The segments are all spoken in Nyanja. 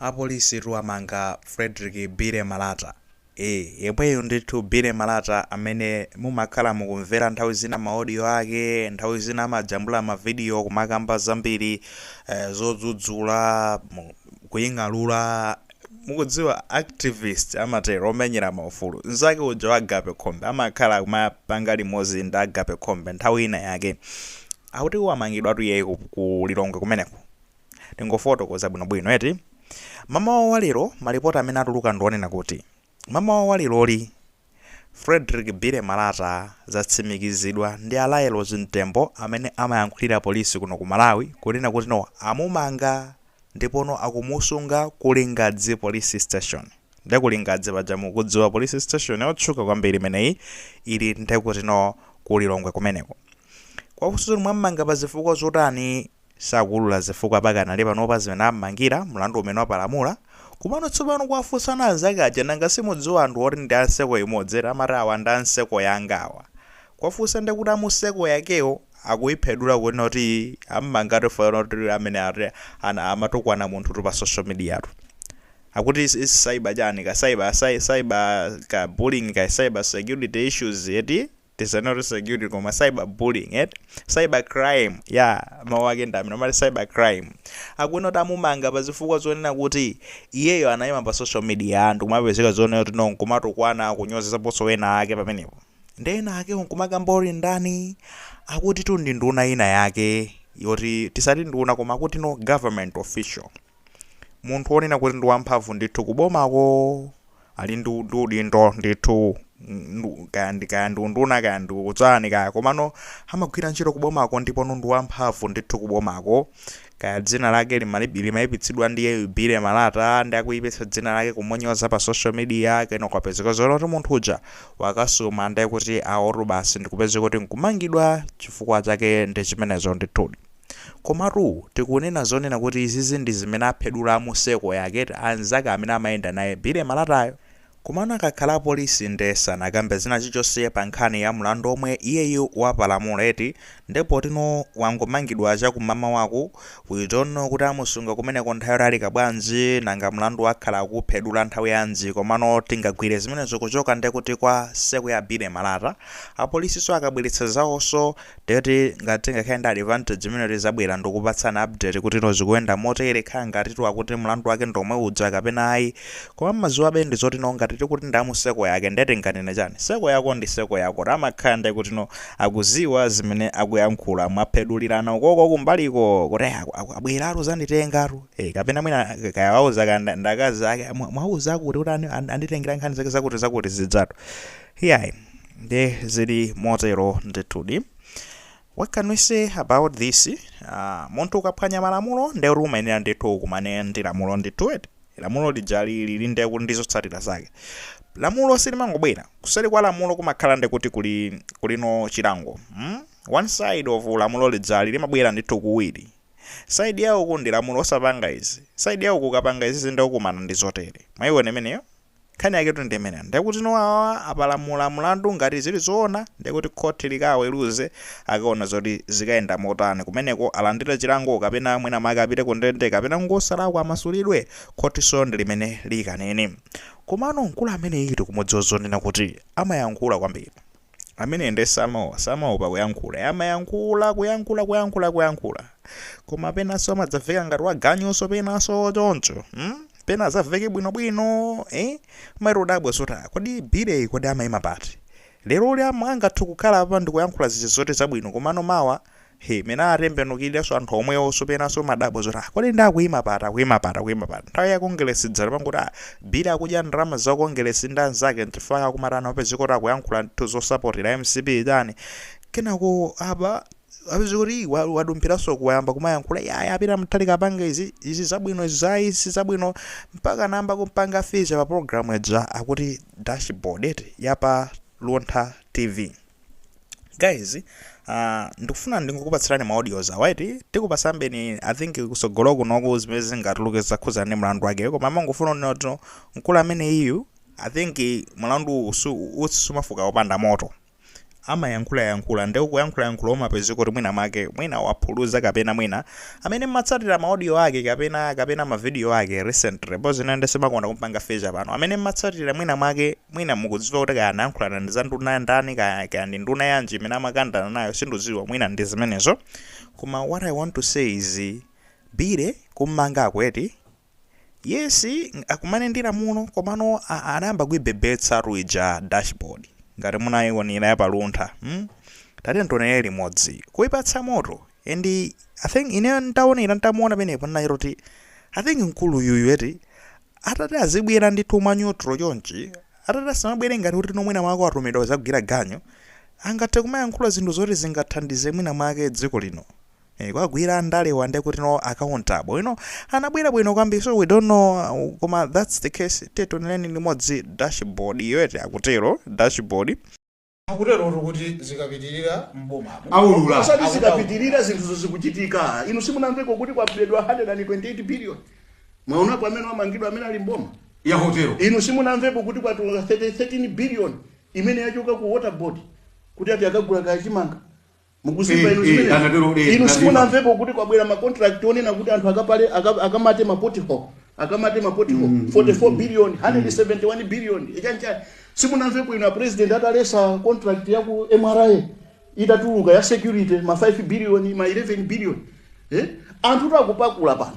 Apolisitu amanga Fredrick Billy Malata ee yemweyu ndithu Billy Malata amene mumakhala mukumvera nthawi zina ma audio ake nthawi zina amajambula ma video kumakamba zambiri eh, zodzudzula mu- kuying'alula mukudziwa activist amatero omenyera maufulu nzake uja wa Agape Khombe amakhala kumapanga limodzi ndi Agape Khombe nthawi ina yake akuti wamangidwatu iyeyi ku ku Lilongwe kumeneko Tingofotokoza bwinobwino eti? Mamawa wa lero, malipoti amene atuluka ndi onena kuti mamawa wa leroli, Fredrick Billy Malata zatsimikizidwa ndi a Lael Chimtembo amene amayankhulira polisi kuno ku Malawi kunena kuti no amumanga ndipo no akumusunga ku Lingadzi Police Station. Nde ku Lingadzi paja mukudziwa police station yotchuka kwambiri imeneyi ili nde kuti no ku Lilongwe kumeneko. Kwafunsa zoti mwammanga pa zifukwa zotani? Sakuulula zifukwa pakanali panopa zimene ammangira mlandu umene wapalamula, komano tsopano kwafunsana anzake aja nanga simudziwa anthu oti ndi a nseko imodzi eti amati awa ndi a nseko yanga awa. Kwafunsa nde kuti a museko yakewo akuiphedula kunena kuti ammanga chifukwa choti amene ati ana amatukwana munthutu pa social media tu. Akuti is is cyber chani ka cyber cyber ka bullying ka cyber security issues eti? Tisanene kuti security koma cyber bullying eti? Cyber crime yaa mawu ake ndi amene amati cyber crime. Akunena kuti amumanga pa zifukwa zonena kuti iyeyo anaima pa social media ndi kumapezeka zonena kuti no nkumatukwana kunyozetsaponso ena ake pamenepo. Nde ena akewo nkumakamba oti ndani akutitu ndi nduna ina yake yoti tisati nduna koma akuti no government official. munthu wonena kuti ndi wamphamvu ndithu kubomako ali ndi ndi udindo ndithu ndu- kaya ndi kaya ndi unduna kaya ndi udzani kaya komano amagwira ntchito kubomako ndipo no ndi wamphamvu ndithu kubomako kaya dzina lake limali- limayipitsidwa ndiye Billy Malata ndi akuyipitsa dzina lake kumunyoza pa social media kena kwapezeka zonena kuti munthu uja wakasuma ndiye kuti aotu basi ndikupezeka kuti nkumangidwa chifukwa chake ndi chimenecho ndithudi Komatu tikunena zonena kuti izizi ndi zimene aphedula a museko yake ti anzake amene amayenda naye Billy Malatayo. Komano akakhala apolisi nde sanakambe china chilichonse pa nkhani ya mlandu omwe iyeyu wapalamula eti nde poti no wangomangidwa cha ku mamawaku we don't know kuti amusunga kumeneko nthawi yotalika bwanji nanga mlandu akhala akuuphedula nthawi yanji komano tingagwire zimenezo kuchoka nde kuti kwa seko ya Billy Malata apolisiso akabweretsa zawonso Ndiyoti ngati tingakhale ndi advantage imeneyo tizabwera ndikupatsani update kuti no zikuyenda motere kaya ngatitu akuti mlandu wake ndomwe uja kapena ayi koma amaziwabe ndi zoti no ngati tikuti ndi amuseko yake ndiye tinganene chani seko yako ndi seko yako amakhala ndiye kuti no akuziwa zimene akuyankhula mwapedulirana ukoko kumbaliko kuti eh, aku- aku- abweratu zanditengatu eh, kapena mwina kaya wauza kaya nda- ndakazi ake "Mwa- mwauza kuti kuti ani- ani- anditengera nkhani zake zakuti zakuti zidzatu iyayi nde zili motero ndithudi what can we say about this uh, munthu ukaphwanya malamulo nde kuti umayenera ndithu akumane ndi lamulo ndithu eti lamulo lija lili nde kuti ndizotsatira zake lamulo silimangobwera kuseri kwa lamulo kumakhala nde kuti kuli kuli ndi chilango hmm? one side of lamulo lijali limabwera ndithu kuwiri side ya uku ndi lamulo osapanga izi side ya uku ukapanga izi nde ukumana ndi zotere mwayiwona imeneyo Nkhani yaketu ndi imeneyo ndiye kuti no awawa apalamula mlandu ngati zili zoona ndiye kuti khothi likaweruze akaona zoti zikayenda motani kumeneko alandire chilango kapena mwina make apite ku ndende kapena ngosalakwa amasulidwe khothinso ndi limene likanene komano mkulu amene iyi tikumudziwa zonena kuti amayankhula kwambiri Amene nde samaoa, samaopa kuyankhula. Eya amayankhula, kuyankhula, kuyankhula, kuyankhula. Koma penanso amadzaveka ngati waganyunso penanso choncho. Hmm? Pena azaveke bwinobwino, eh? Umayenera kudabwa zoti ah, kodi Billy kodi amayima pati? Lero lili angathe kukhala apa ndikuyankhula zija zoti zabwino komano mawa He, mmene atembenukiranso anthu omwewo so penanso umadabwa zoti ah, kodi ndi akuima pati akuima pati akuima pati nthawi ya kongeresi dzana ankangoti ah, Billy akudya ndalama za kongeresi ndi anzake nchifukwa ankamatha kupezeka kuti akuyankhula ndithu zosapota mcp chani kenako apa apezeka kuti wa- wadumphiranso wayamba kumayankhula ya a Peter Mutharika apanga izi izi zabwino izi za izi zabwino mpaka anayamba kumpanga feature pa program ija akuti dashboard eti yapa luntha tv guys uh, ndikufuna ndingokupatsirani ma audios awa eti tikupasambeni i think kusogolo kunoku zimene zingatuluke zokhudzana ndi mlandu wake koma ndimangofuna kunena kuti mkulu amene iyu i think mlandu usu- utsi sumafuka popanda moto amayankhulayankhula nde kuyankhulayankhula umapezeka kuti mwina make mwina waphuluza kapena mwina Amene mmatsatira ma audio ake kapena kapena ma video ake recently poti ine nde sindimakonda kumpanga feature pano. Amene mmatsatira mwina mwake mwina mukudziwa kuti kaya anayankhula ndi za nduna ndani kaya kaya ndi nduna yanji imene amakandana nayo sinduziwa mwina ndi zimenezo. Koma what I want to say is Billy kummangako eti Yes akumane ndi lamulo komano a- anayamba kuibebetsatu ija dashboard ngati munaiwonera ya pa Luntha hmm? tatiyeni tionere limodzi kuipatsa moto and i think ine ntaonera ntamuona penepo ndinachita kuti i think mkulu yuyu eti atati azibwera ndi tuma neutral chonchi atati asamabwere ngati kuti mwina mwake atumidwa kuzagwira ganyu angathe kumayankhula zinthu zoti zingathandize mwina mwake dziko lino Eh, kwagwira ndale apa ndekuti no accountable you know anabwera bwino kwambiri so we don't know uh, koma that's the case tationereni limodzi dashboard iyo eti akutero dashboard akutero kuti zikapitirira mbomamo aulula osati zikapitirira zinthuzo zikuchitika inu simunamveko kuti kwabedwa 128 billion mwaonapo amene wamangidwa amene ali mboma ya hotelo inu simunamvepo kuti kwatuluka 13 billion imene yachoka ku water board kuti ati akagule kaya chimanga mukuzimva Eh, inu eh, zimenezo anatero, eh, inu anatero. simunamvepo kuti kwabwera macontract onena kuti anthu akapale aka- akamate mapothole akamate mapothole 44 billion 171 billion chani chani simunamvepo inu apresident ataletsa contract ya ku mra itatuluka ya security ma 5 billion ma 11 billion eh? anthu akupakula pano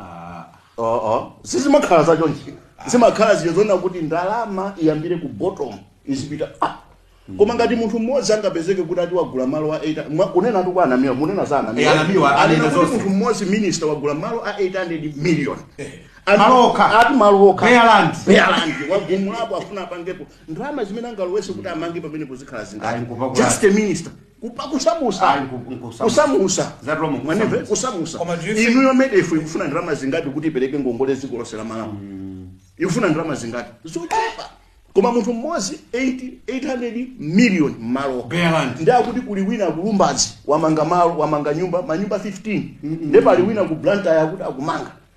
Ah, Uh -uh. sizimakhala za chonchi zimakhala zija zonena kuti ndalama iyambire ku bottom izipita ah. koma ngati munthu mmodzi angapezeke kuti ati wagula malo a 8 mwa- kunena tu kwa anamiwa munena za anamiwa Eh, anamiwa, anena anena kuti zonse. munthu mmodzi minister wagula malo a 800 million Ati- Malo okha. ati malo okha Bare land. Bare land. wagumulapo afuna apangepo ndalama zimene angalowetse kuti amange pamenepo zikhala Ayi, kupa zingati kulala. just a minister Kupa- kusamusa Ayi, ku- ku- kusamusa. kusamusa Za Roma, kusamusa. Mwanive? kusamusa Koma do you think- inuyo MEDF ikufuna ndalama zingati kuti ipereke ngongole dziko lonse la malawi ikufuna ndalama zingati zochepa koma munthu mmodzi 80 800 million mmalo Bare land. ndi akuti kuli wina ku Lumbadzi wamanga malo wamanga nyumba manyumba 15 nde pali wina ku Blantyre akuti akumanga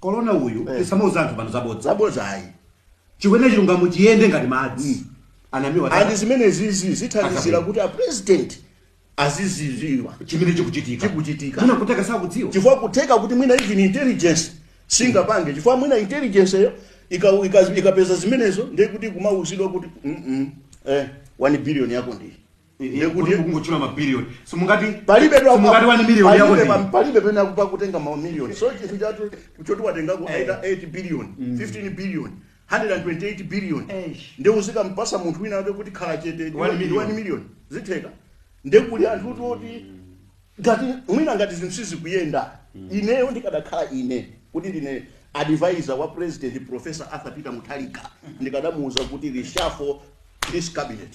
kolona uyu Eh. tisamauza anthu pano zabodza zabodza ayi tiyeni chilungamo chiyende ngati madzi anamiwa and zimenezizi zithandizira Akapena. kuti apresident azizidziwa chimene chikuchitika Chikuchitika. Mwina kutheka sakudziwa chifukwa kutheka kuti mwina even intelligence singapange chifukwa mwina intelligence-yo ika- ika- ikapeza zimenezo ndiye kuti kumauzidwa kuti "Mm-mm, eh, 1 billion yako ndi ndiye kuti mukungotchula ma billion simungati palibe dwa- simungati 1 million yako palibe ndi pa- palibe penapake kutenga ma million so chinthu chake choti watengako aita 8 billion 15 billion 128 billion Eish. nde uzikampatsa munthu wina ake kuti khala chete ndi One million. 1 million zitheka nde kuli anthu kuti oti ngati mwina ngati zinthu sizikuyenda ineyo ndikadakhala ine kuti ndine advisor wa president professor arthur peter mutharika ndikadamuuza kuti reshuffle this cabinet